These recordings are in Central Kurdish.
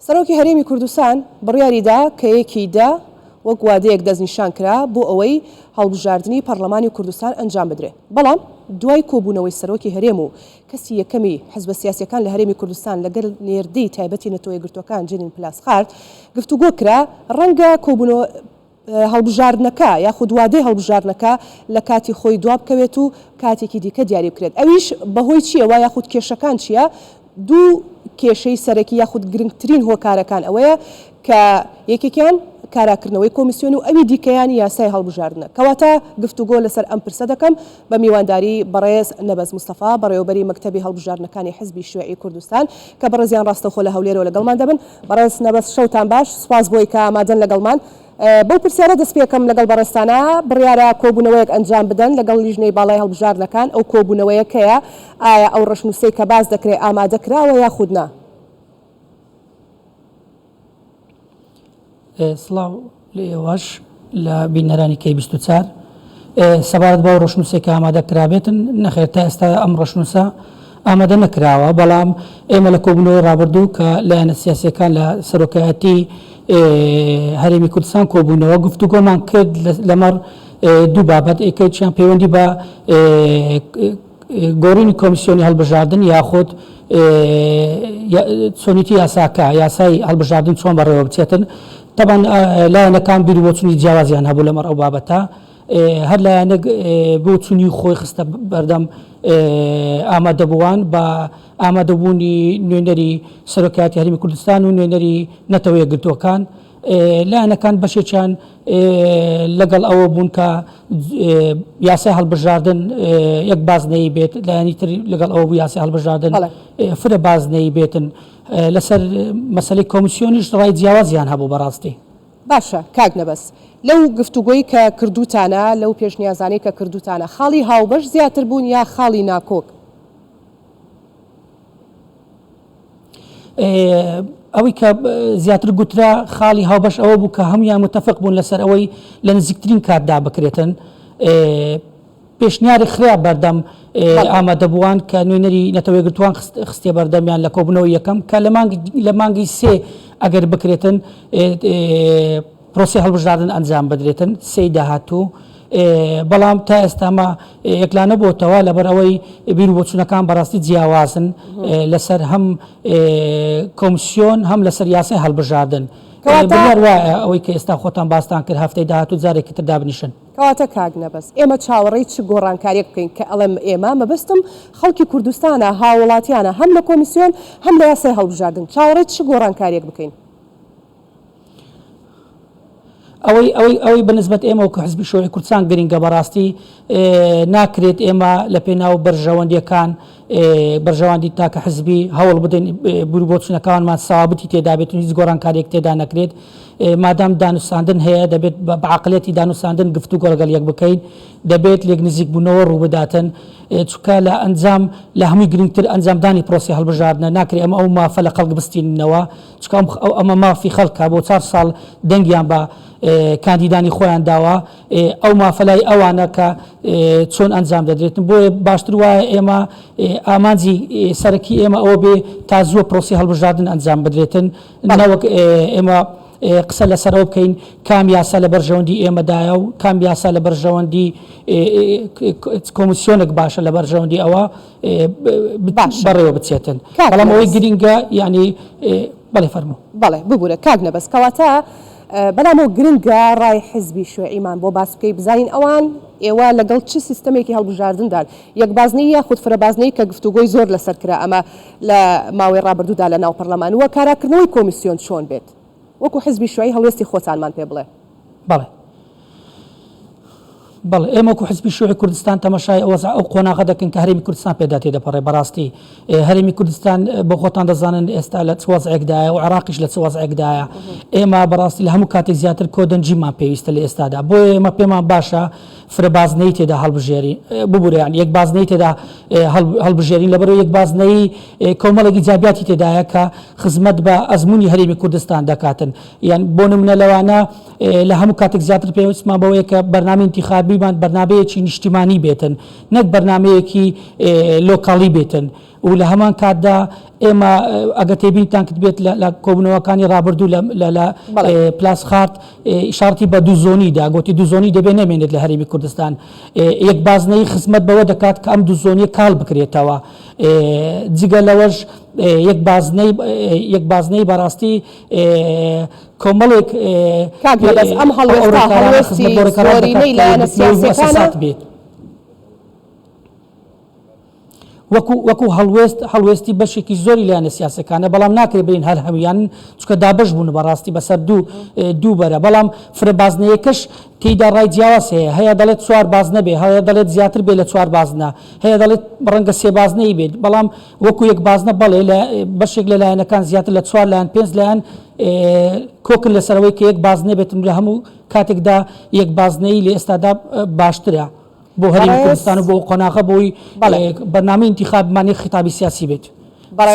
سەرۆکی هەرێمی کوردستان بڕیاری دا کە یەکی دە وەک وادەیەک دەستنیشان کرا بۆ ئەوەی هەڵبژاردنی پەڕڵەمانی کوردستان ئەنجام بدرێ بەڵام دوای کۆبوونەوەی سەرۆکی هەرێم و کەسی یەکەمی حزبە سیاسیەکان لە هەرێمی کوردستان لەگەل نێردەی تایبەتی نەتەوەیەکگرتووەکان جنین پلاسخارت گفتوگۆ کرا ڕەنگە کۆبوونەوە هەڵبژاردنەکە یاخود وادەی هەڵبژاردنەکە لە کاتی خۆی دوابکەوێت و کاتێکی دیکە دیاری بکرێت ئەویش بەهۆی چییەوە یاخود کێشەکان چییە؟ دوو کێشەی سەرەکی یاخود گرنگترین هۆکارەکان ئەوەیە کە یەکێکیان کاراکردنەوەی کۆمیسیۆن و ئەوی دیکەیان یاسای هەڵبژاردنە کەواتە گفتوگۆ لەسەر ئەم پرسە دەکەم بە میوانداری بەڕێز نەبەز مستەفا بەڕێوەبەری مەکتەبی هەڵبژاردنەکانی حزبی شیوعی کوردستان کە بەڕێزیان ڕاستەوخۆ لە هەولێرەوە لەگەڵمان دەبن. بەڕێز نەبەز شەوتان باش، سوپاس بۆی کە ئامادەن لەگەڵمان. بەو پرسیارە دەست پێکەم لەگەڵ بەڕێزتانا، بڕیارە کۆبوونەوەیەک ئەنجام بدەن لەگەڵ لیژنەی باڵای هەڵبژاردنەکان، ئەو کۆبوونەوەیە کەیە؟ ئایا ئەو ڕەشنووسەی کە باس دەکرێ ئامادە کراوە یاخود نا؟ سڵاو لە ئێوەش لە بینەرانی کەی بیست و چار سەبارەت بەو ڕشنووسێک کە ئامادە کرابێتن نەخێر تا ئێستا ئەم ڕشنووسە ئامادە نەکراوە بەڵام ئێمە لە کۆبنەوەی ڕابردوو کە لایەنە سیاسەکان لە سەرۆکایەتی هەرێمی کوردستان کۆبوونەوە گفتوگۆمان کرد لەمەڕ دوو بابەت ئێکەوتیان پەیوەندی بە گۆڕینی کۆمیسیۆنی هەڵبژاردن یاخود چۆنیتی یاساکە یاسای هەڵبژاردن چۆن بەڕێوە بچێتن تەبان لایەنەکان بیر بۆچونی جیاوازیان هەبوو لەمەڕ ئەو بابەتە هەر لایەنێک بۆ چونی خۆی خستە بەردەم ئامادەبووان بە ئامادەبوونی نوێنەری سەرۆکایەتی هەرمی کوردستان و نوێنەری نەتەوەیە گرتووەکان لایەنەکان بەشێکیان لەگەڵ ئەوە بوون کە یاسای هەڵبژاردن یەک بازنەی بێت لایەنی تر لەگەڵ ئەوە بوو یاسی هەڵبژاردن فرە بازنەی بێتن لەسەر مەسلەی کۆمسیۆنیش ڕای جیاوازیان هەبوو بەڕاستی باشە کاک نەبەس لەو گفتوگۆی کە کردوتانە لەو پێشنیازانەی کە کردوتانە خاڵی هاوبەش زیاتر بوون یا خاڵی ناکۆک؟ ئەوەی کە زیاتر گوترا خاڵی هاوبەش ئەوە بوو کە هەمویان متفق بوون لەسەر ئەوەی لە نزیکترین کاتدا بکرێتن پێشنیاری خراپ بەردەم ئامادەبووان کە نوێنەری نەتەوەی گرتوان خستێ بەردەمیان لە کۆبنەوە یەکەم کە لە مانگی سێ ئەگەر بکرێتن پرۆسەی هەڵبژاردن ئەنجام بدرێتن سێی داهاتوو، بەڵام تا ئێستا ئەمە یەکلا نەبۆتەوە لەبەر ئەوەی بیر و بۆچوونەکان بەڕاستی جیاوازن لەسەر هەم کۆمسیۆن هەم لەسەر یاسای هەڵبژاردن بڕیار وایە ئەوەی کە ئێستا خۆتان باستان کرد هەفتەی داهاتوو جارێکی تر دابنیشن. کەواتە کاک نەبەز ئێمە چاوەڕێی چ گۆڕانکارییەک بکەین؟ کە ئەڵێم ئێمە مەبەستم خەڵکی کوردستانە، هاووڵاتییانە هەم لە کۆمیسیۆن هەم لە یاسای هەڵبژاردن چاوەڕێی چ گۆڕانکارییەک بکەین؟ ئەوەی ئەوەی ئەوەی بە نسبەت ئێمە وەکو حزبی شۆڕی کوردستان گرینگە بەڕاستی ناکرێت ئێمە لە پێناو بەرژەوەندیەکان بەرژەوەندی تاکە حزبی هەوڵ بدەین بوری بۆچونەکانمان ساوابتی تێدابێت و هیچ گۆڕانکارێک تێدا نەکرێت مادام دانوساندن هەیە دەبێت بە عقلەتی دانوساندن گفت و گۆڵگەل یەک بکەین دەبێت لێک نزیک بوونەوە ڕووبداتن چکە لە ئەنجام لە هەمووی گرنگتر ئەنجامدانی پرۆسی هەڵبژاردنە ناکرێ ئەمە ئەو مافە لە خەڵک بستینەوە چکا ئەو ئەمە مافی خەڵکە بۆ چار ساڵ دەنگیان بە کاندیدانی خۆیان داوە ئەو مافە لای ئەوانە کە چۆن ئەنجام دەدرێتن بۆیە باشتر وایە ئێمە ئامانجی سەرەکی ئێمە ئەوە بێ تا زووە پرۆسی هەڵبژاردن ئەنجام بدرێتن نەوەک ئێمە قسە لەسەرەوە بکەین کام یاسا لە بەرژەوەندی ئێمەدایە و کام یاسا لە بەرژەوەندی کۆمسیۆنێک باشە لە بەرژەوەندی ئەوە بەڕێوە بچێتن بەڵام ئەوەی گرینگە یانی بەڵێ فەرموو بەڵێ ببورە کاک نەبەز کەواتە بەلام ئەو گرنگە ڕای حزبی شوعیمان بۆ باس بکەی بزانین ئەوان ئێوە لەگەڵ چ سیستەمێکی هەڵبژاردندان یەک بازنەی یاخود فرە بازنەی کە گفتوگۆی زۆر لەسەر کرا ئەمە لە ماوەی ڕابردوودا لە ناو پەرلەمان وە کاراکردنەوەی کۆمیسیۆن چۆن بێت وەکو حزبی شوعی هەڵوێستی خۆتانمان پێ بڵێ. بەڵێ بەڵێ ئێمە وەکو حزبی شوعی کوردستان تەمەشای وەزع ئەو قۆناغە دەکەین کە هەرێمی کوردستان پێدا تێدەپەڕێ بەڕاستی هەرێمی کوردستان بۆ خۆتان دەزانن ئێستا لە چ وەزعێکدایە و عێراقیش لە چ وەزعێکدایە ئێمە بەڕاستی لە هەموو کاتێک زیاتر کۆدەنجیمان پێویستە لە ئێستادا بۆیە ئێمە پێمان باشە فرە بازنەیی تێدا هەڵبژێرین، ببورە یانی یەک بازنەیی تێدا هەڵبژێرین، لەبەرئەوەی یەک بازنەیی کۆمەڵێک ئیجابیاتی تێدایە کە خزمەت بە ئەزموونی هەرێمی کوردستان دەکاتن، یان بۆ نموونە لەوانە لە هەموو کاتێک زیاتر پێویستمان بەوەیە کە بەرنامەی ئینتیخابیمان بەرنامەیەکی نیشتیمانی بێتن، نەک بەرنامەیەکی لۆکاڵی بێتن. و لە هەمان کاتدا ئێمە ئەگە تێبین تانکت بێت لە کۆبنەوەکانی رابردوو لە پلاس خارت شارتی بە دوو زۆنی دا گوتی دوو زۆنی دەبێ نەمێنێت لە هەرمی کوردستان یەک بازنەی خزمەت بەوە دەکات کە ئەم دوو زۆنیە کاڵ بکرێتەوە جگە لەوەش یەک بازنەی یەک بازنەی بەڕاستی کۆمەڵێک ئەم هەڵۆڕێکارانەی لایەنە سیاسەکانە بێت وەکو وەکو هەڵوێست هەڵوێستی بەشێکی زۆری لایەنە سیاسەکانە بەڵام ناکرێت بڵێین هەر هەمویانن چونکە دابەش بوون بەڕاستی بەسەر دوو دوو بەرە بەڵام فرە بازنەیەکەش تێیدا ڕای جیاواز هەیە هەیە دەڵێت چوار بازنە بێ هەیە دەڵێت زیاتر بێ لە چوار بازنە هەیە دەڵێت ڕەنگە سێ بازنەی بێت بەڵام وەکو یەک بازنە بەڵێ لە بەشێک لە لایەنەکان زیاتر لە چوار لایەن پێنج لایەن کۆکن لەسەرەوەی کە یەک بازنە بێتن لە هەموو کاتێکدا یەک بازنەی لە ئێستادا باشترە بۆ هەرێمی کوردستان و بۆ قۆناغە بۆی بەرنامەی ئینتیخاب مانێک خیتابی سیاسی بێت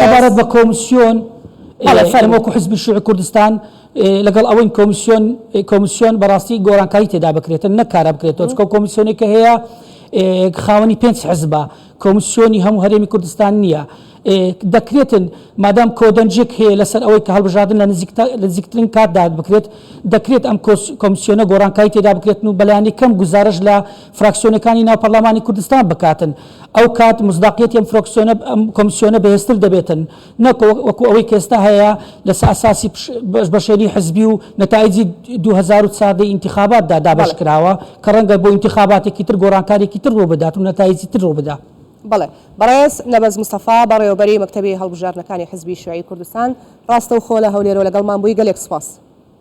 سەبارەت بە کۆمسیۆن ئێمە وەکو حزبی شوعی کوردستان لەگەڵ ئەوەین کۆمسیۆن کۆمسیۆن بەڕاستی گۆرانکاری تێدا بکرێتن نەکارە بکرێتەوە چکە کۆمسیۆنێکە هەیە خاوەنی پێنج حزبە کۆمسیۆنی هەموو هەرێمی کوردستان نییە. ئێ دەکرێتن مادام کۆدەنجێک هەیە لەسەر ئەوەی کە هەڵبژاردن لە نزیکترین کاتدا بکرێت، دەکرێت ئەم کۆمسیۆنە گۆڕانکاری تێدا بکرێتن و بە لایەنی کەم گوزارەش لە فراکسیۆنەکانی ناو پەرلەمانی کوردستان بکاتن. ئەو کات مصداقیەتی ئەم کۆمسیۆنە بەهێزتر دەبێتن. نەک وەکو ئەوەی کە ئێستا هەیە لەسە ئەساسی بەش بەشێنی حزبی و نەتایجی دوو هەزار و چاردە ی ئینتیخابات دا دابەش کراوە کە ڕەنگە بۆ ئینتیخاباتێکی تر گۆڕانکارێکی تر ڕوو بدات و نەتایجی تر ڕوو بدا. بەڵێ بەڕێز نەبەز مستەفا بەڕێوەبەری مەکتەبی هەڵبژاردنەکانی حزبی شیوعی کوردستان ڕاستەوخۆ لە هەولێرەوە لەگەڵمان بووی گەلێک سوپاس.